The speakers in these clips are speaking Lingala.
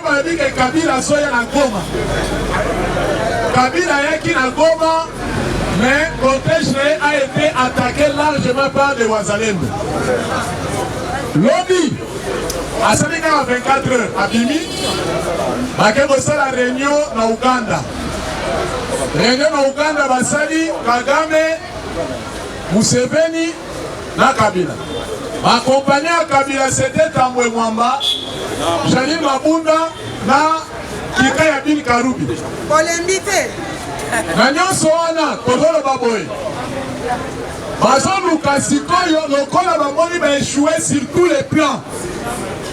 Balobi ke Kabila azoya na Goma. Kabila ayaki na Goma, mais cortège na ye a été attaqué largement par des Wazalendo. Lobi asali kaka 24 heures abimi, bake kosala reunion na Uganda. Reunion na Uganda basali Kagame, Museveni na kabila ba compagnie ya kabila sete tambwe mwamba jali mabunda na kika ya bin karubi olembi te na nyonso wana tozoloba boye bazoluka sikoyo lokola bamoni baechoue sur tous les plans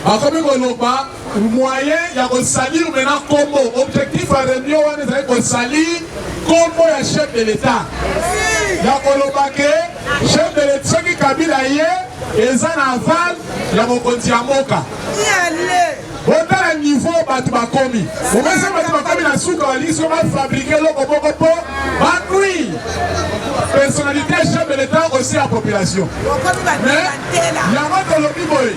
bakomi koloba Moyen ya ko salir maintenant kombo, objectif ya reunion wana ezali ko salir kombo ya chef de l'etat, ya koloba ke chef de l'etat soki Kabila ye eza na aval ya mokonzi ya mboka. botala niveau bato bakomi omesa bato bakomi na suka balingi so bafabrike eloko moko mpo banui personnalité ya chef de l'état osi ya population Yango tolobi boye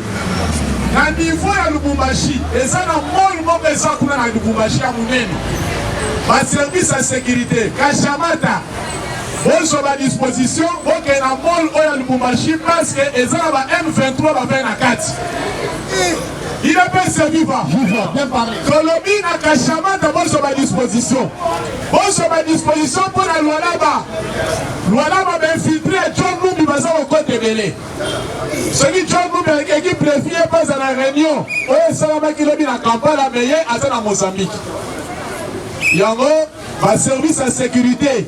na niveau ya Lubumbashi eza na mall moko eza kuna na Lubumbashi ya munene ba service ya securite kashamata bozwa ba disposition bokee na mall oyo ya Lubumbashi parce que eza na ba M23 bavai na kati Il a pas servi va. Viva, bien parlé. Colombie na Kachama d'abord sur ma disposition. Bon sur ma disposition pour la Lualaba. Lualaba m'a infiltré John Mumbi baza au côté belé. Celui John Mumbi avec équipe préfie pas à la réunion. Oye salama ki lobi na Kampala mais ye aza na Mozambique. Yango ba service ya sécurité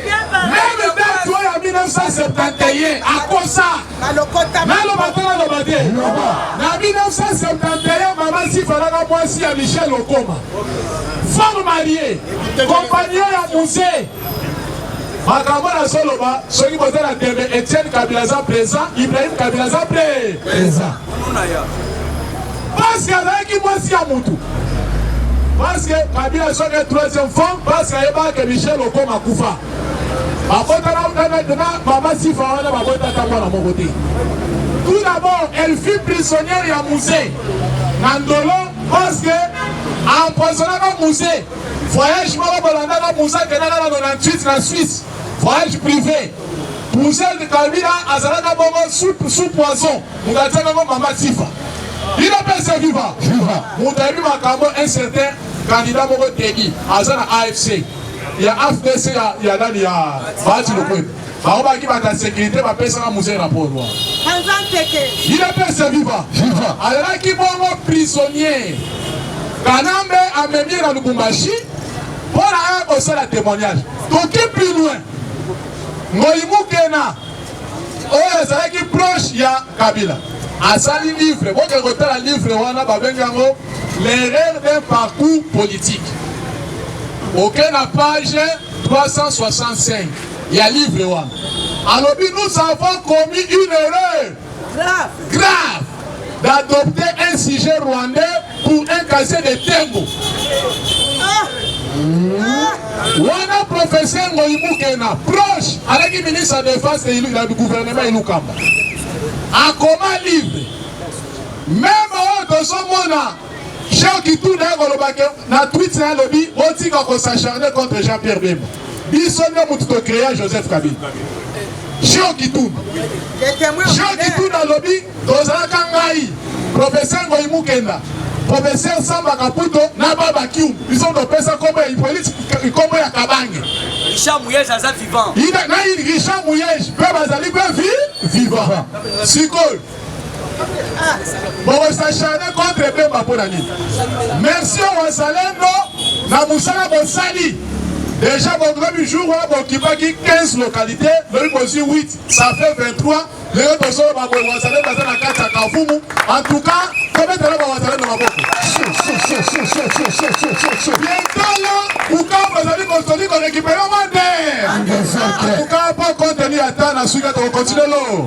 meme date oyo ya 1971 akosa naloba te naloba te na 1971 mama sifalaka mwasi ya michel okoma femme marie compagnie ya musee makambo nazoloba soki boza na tembe etienne kabila aza présent ibrahim kabila aza mpe présent Parce que azalaki mwasi ya mutu. Parce que Kabila azwaki troisième femme parce que ayebaka que Michel Okoma akufa. Babotana utana na mama Sifa wana babota ata mwana moko te. Tout d'abord, elle fut prisonnière ya musée na Ndolo parce que empoisonnaka musée. Voyage moko bolandaka musée akendaka na 98 na Suisse. Voyage privé. Musée de Kabila azalaka bongo sous sous poison. Moto atiaka ngo mama Sifa. Bino pesa viva. Viva. Moto ayebi makambo un certain candidat moko Teddy aza na AFC ya AFDC ya ya nani ya Bahati Lukwebo. Bango baki bata sécurité bapesaka musee rapport wana. Anza nteke. Bino pesa viva. Viva. Alaki bongo prisonnier. Kanambe amemi na Lubumbashi mpo na aya kosala témoignage. Toki plus loin. Ngoyi Mukena oyo azalaki proche ya kabila asali livre bokende kotala livre wana babengi yango l'erreur d'un parcours politique oke okay, na page 365 ya livre wana alobi nous avons commis une erreur grave, grave. d'adopter un sujet rwandais pour un casier de tembo wana professeur ngoyi mukena proche alaki ministre ya defense ya gouvernement elukamba akoma livre meme oyo tozomona Jean Kitu naye koloba ke na tweet na lobi botika ko s'acharner contre Jean Pierre Bemba. Biso nde mutu to créer Joseph Kabila. Jean Kitu. Jean Kitu na lobi tozalaka ngai professeur Ngoyi Mukenda professeur Samba Kaputo na Baba Kiu. Biso ndo pesa kombo ya Hippolyte kombo ya Kabange. Richard Muyej aza vivant. Ina na Richard Muyej pe bazali pe vivant. Sikoyo bosachane contre bemba mpo na nini merci wazalendo na mosala bosali deja bonomi jour wana bokipaki 15 localité lobi bozwi 8 ça fait 23 lelo tozoloba boye wazalendo aza na kati ya kavumu en tout cas tobetala bawazalendo maboko bientolo bukavu ezali kozali korekipere mande en tout cas po contenu ata na suki tokokontinue lo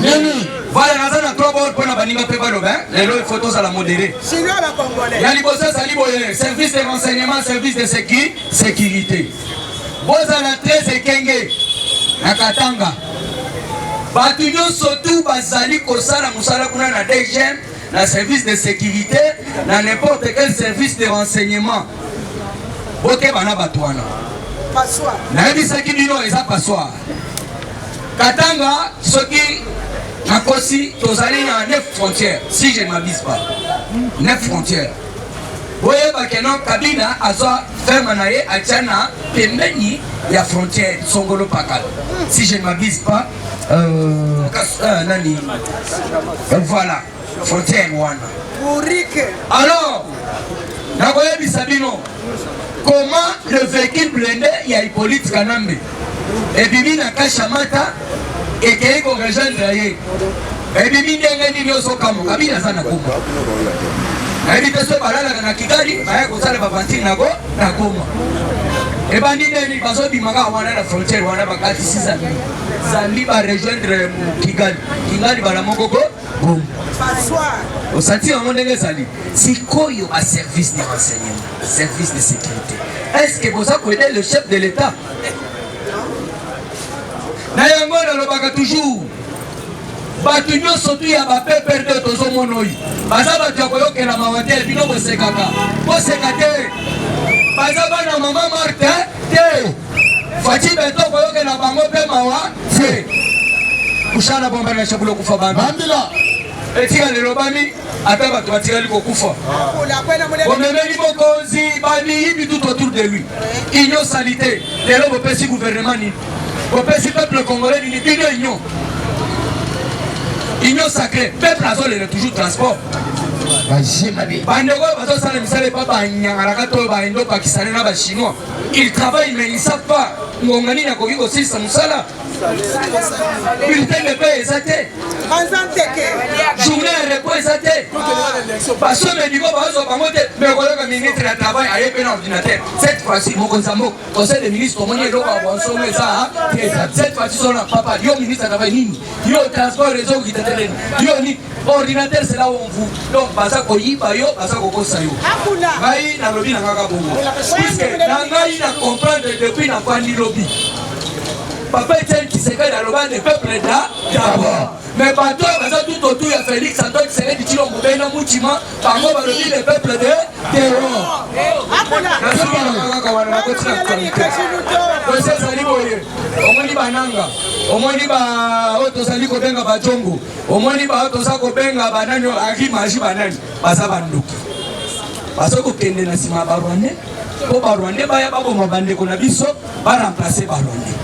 nini voilà naza na trois bord mpo na baninga mpe baloba hein. lelo il faut tozala modere ya liboso ezali boye service de renseignement service de sécu sécurité bozala très ekenge na katanga bato nyonso tu bazali kosala mosala kuna na dgm na service de sécurité na n'importe quel service de renseignement bokeba na bato wana nayebisaki bino eza passoire Katanga soki nakosi tozali na 9 frontières si je ne m'abuse pas 9 frontières boyeba keno kabila azwa ferme na ye atya na pembeni ya frontière songolo pakala si je ne m'abuse pas euh, euh, nani euh, voilà Foto yango wana. Bourrique. Alors, nakoyebisa bino comment le véhicule blindé ya Hippolyte Kanambe ebimi na Kashamata ekei ko rejoindre ye ebimi ndenge nini ozokamwa kabila aza na goma nayebi te so balalaka na kigali baya kosala bavantire na go na goma ebandi ndeni bazobima kaka wana na frontiere wana bakatisi zambi zambi barejoindre kigali kigali bala moko go Gum. Osati yango ndenge ezali sikoyo, ba service de renseignement, service de sécurité, est-ce que boza koede le chef de l'État? Na yango nalobaka toujours bato nyonso tu ya bapeper nde tozomona oyo baza bato ya koyokela mawa te bino bosekaka boseka te baza bana mama marte te Fatshi beton koyokela bango mpe mawa te kushala bomba na shabulo kufa bantu bandila etika lelobami ata bato batikali kokufa bomemeli bokonzi bamiyibi tout autour de lui union salite lelo bopesi gouvernement nini bopesi peuple congolais nini bino union union sacré peuple azolela toujours transport bandeko oyo bazosala misala epa banyangalaka to baindo pakistane na bachinois Ils travaillent mais ils savent pas ngonga nini akoki kosilisa mosala bulletin de paie eza te journée ya repos eza te baso medico bazwa bango te mais okoyoka ministre ya travail aye mpe na ordinateur cette fois-ci mokonzi ya mboka conseil de ministre omoni eloko ya bonsolo eza te cette fois-ci sona papa yo ministre ya travail nini yo transport ezo okita te nini yo nini Ordinateur c'est là où on vous donc baza koyiba yo baza kokosa yo ngai nalobi na ngaka bongo puisque na ngai na comprendre depuis na fandi lobi papa etienne kisekedi aloba ne peuple da d'abord mais bato oyo baza tout autour ya félix antoine kisekedi tino mobei na mutima bango balobi ne peuple de terror nazobalakaka wana nakotina actualité osi ezali boye omoni bananga omoni baoyo tozali kobenga bajongo Omoni ba toza kobenga banani oyo agi maji banani baza bandoki baza kokende na nsima ya barwandais mpo barwandais baya baboma bandeko na biso baremplace barwandais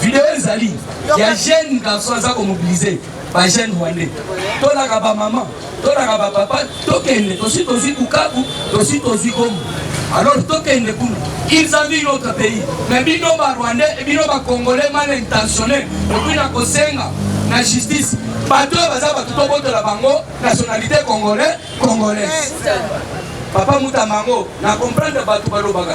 video ezali ya jeune garçon aza komobilize bajeune rwandais tolaka bamama Tolaka ba papa tokende tosi tozwi Bukavu tosi tozwi Goma alors tokende kuna ils ont vu notre pays mais bino ba rwandais et bino ba congolais mal intentionnés okoki na kosenga na justice bato oyo baza bato tobotola bango nationalité congolais congolaise papa mutambango na comprendre bato balobaka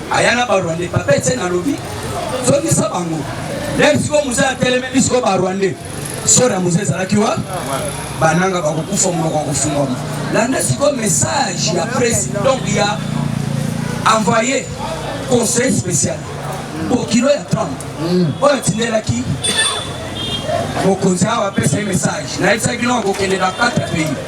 Aya na ba Rwandais papa Etienne alobi zongisa bango lelo sikoyo muse atelemeli sikoyo ba Rwandais sora muse ezalaki wa bananga bakokufa monoko ya kofungwama landa sikoyo message ya presse donc ya envoyé conseil spécial bokilo ya trump mm. oyo atindelaki mokonzi awa apesa ye message nayebisaki bino akokende na 4 pays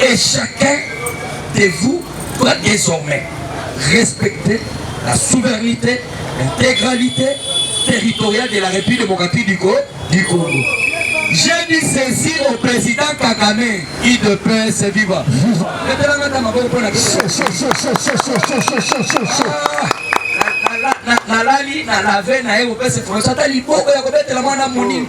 Et chacun de vous doit désormais respecter la souveraineté, l'intégralité territoriale de la République démocratique du, Co du Congo. J'ai dit ceci au président Kagame, IDPS viva. nalali na lave na ye kopesa information ata liboko ya kobetela mwana monini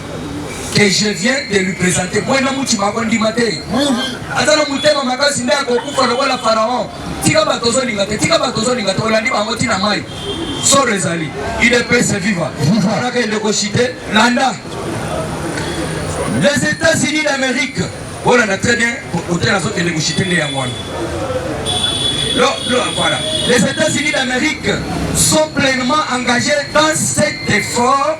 que je viens de lui présenter mwena mutima akondima te aza na motema makasi nde akokufa lokola pharaon tika bato ozolinga te tika bato ozolinga te olandi bango ntina mai soro ezali idps viva anaka eleko chite landa les états-unis d'amérique olanda très bien otela azokende kochite nde yango wana voilà. Les États-Unis d'Amérique sont pleinement engagés dans cet effort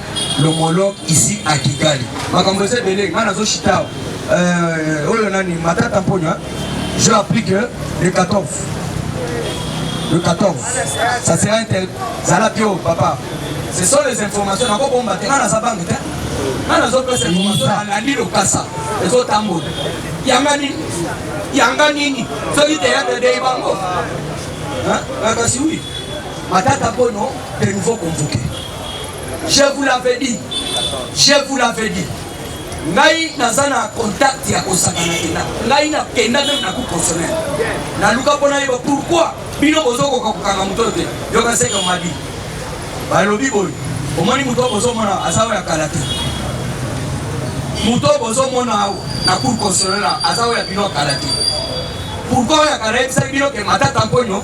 l'homologue ici à Kigali. Makambo eza ebele ngai nazo shitao euh, oyo nani matata mponya je applique le 14 le 14 ça sera inter zala bio papa ce sont les informations nako bomba te ngai naza bange te ngai nazopesa information nalandi lokasa ezotambola yanga nini yanga nini soki teyatre dei bango kasi wi matata mpono de nouveau convoqué Je vous l'avais dit. Je vous l'avais dit. ngai naza na contact ya kosakana kenda ngai nakenda meme na coup consommer naluka mpo nayeba pourquoi bino bozokoka kokanga moto te yoka seke mabi balobi boye omoni moto oyo bozomona aza oyo ya kala te moto oyo bozomona awa na cour constitutionnel aza oyo ya bino ya kala te pourkoi oyo ya kala yebisaki bino ke matata mponyo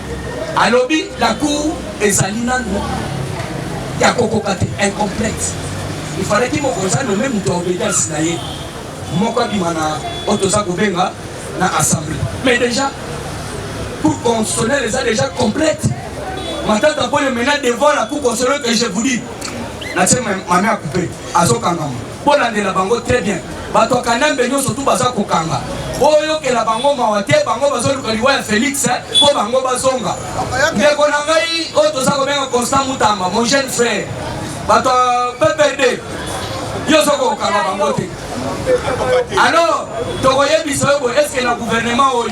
Alobi la cour ezali nanu ya kokoka te, incomplète. Il fallaki mokonzi a nommer moto ya obedience na ye moko abima na oyo toza kobenga na assemblee. Mais dejà cour constitutionnelle eza dejà complète. Matata Ponyo maintenant devant la cour constitutionnelle que je vous dis, natie mame ya coupe azokangama. Bolandela bango très bien. Bato ya Kanambe nyonso tu baza kokanga. Boyokela bango mawa te, bango bazoluka liwa ya Felix mpo bango bazonga. Ndeko na ngai oyo toza kobenga Constant Mutamba, mon jeune frère, bato ya PPRD nyonso kokanga bango te. Alors tokoyebisa yo boye, eske na gouvernement oyo